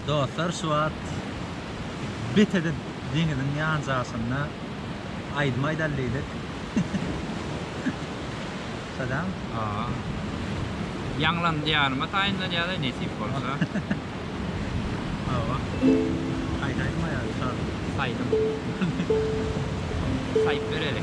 Dostlar şu wagt betede deňiziň ýanjagşynda aýdym aýdaly diýdik. Şadam. Haa. Ýaňlan Diýaryma taýynlanýada nesip bolsa. Hawa. Haýsy aýdym aýaly şa. Saýdym. Saýyp bereli.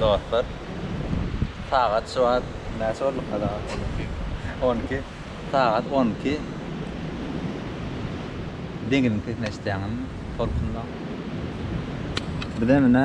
Dostlar sagat şu wagt näçe bolupka sagat on iki on iki sagat on iki deňiziň sesini eşitýäňizmi tolkunlaň bize menä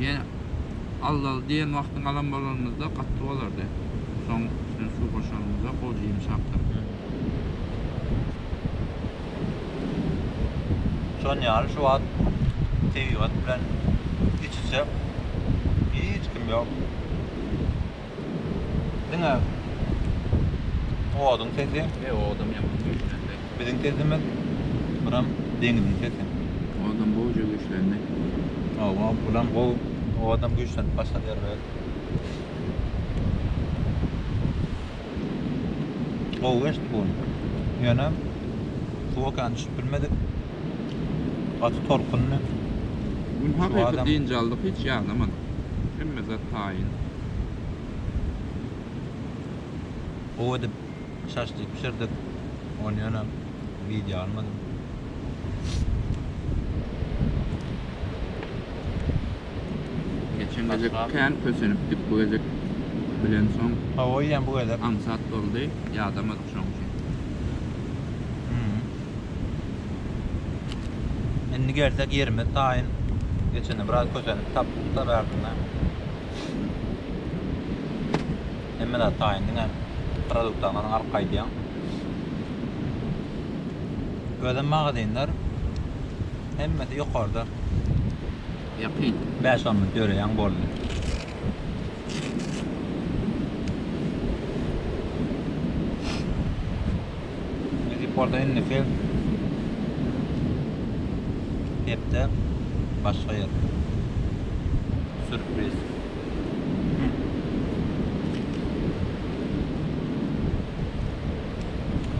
Ýene allaly diýen wagtyň alan bolanymyzda gaty bolardy. Soň üstüne suw goşanymyzda gowy jyms çapdyr. Şon ýaly şu wagt tebigat bilen iç-içe hiç kim ýok. Diňe oduň sesi. He, odam ýaman güýçlendi. Biziň sesimiz, buram deňziň sesi. Odam gowja güýçlendi. Hawa, bulam gowy. Odam güýçlenip başlady ýerber. Gowy geçdi bu gün. Ýöne suwa kän düşüp bilmedik. Gaty tolkunly. Gün hakyky dynç aldyk hiç ýagnamadyk. Hemme zat taýyn. Gowy edip şaşlyk bişirdik. Ony ýöne wideo almadym. Geçen gezek kän kösenipdik bu gezek bilensoň. Hawa ýan bu gezek. Aňsat boldy ýadamadyk. Indi gelsek ýerimiz taýyn. Geçende biraz kösenip tapdykda bärtinde. Hemme zat taýyn diňe produktlaryňyzy alyp gaýdyň. Özem magazinler hemmesi ýokarda. Ýakyn. Bäş-on minut ýöreýäň boldy. Orada indi fil hepde başga yer. Sürpriz.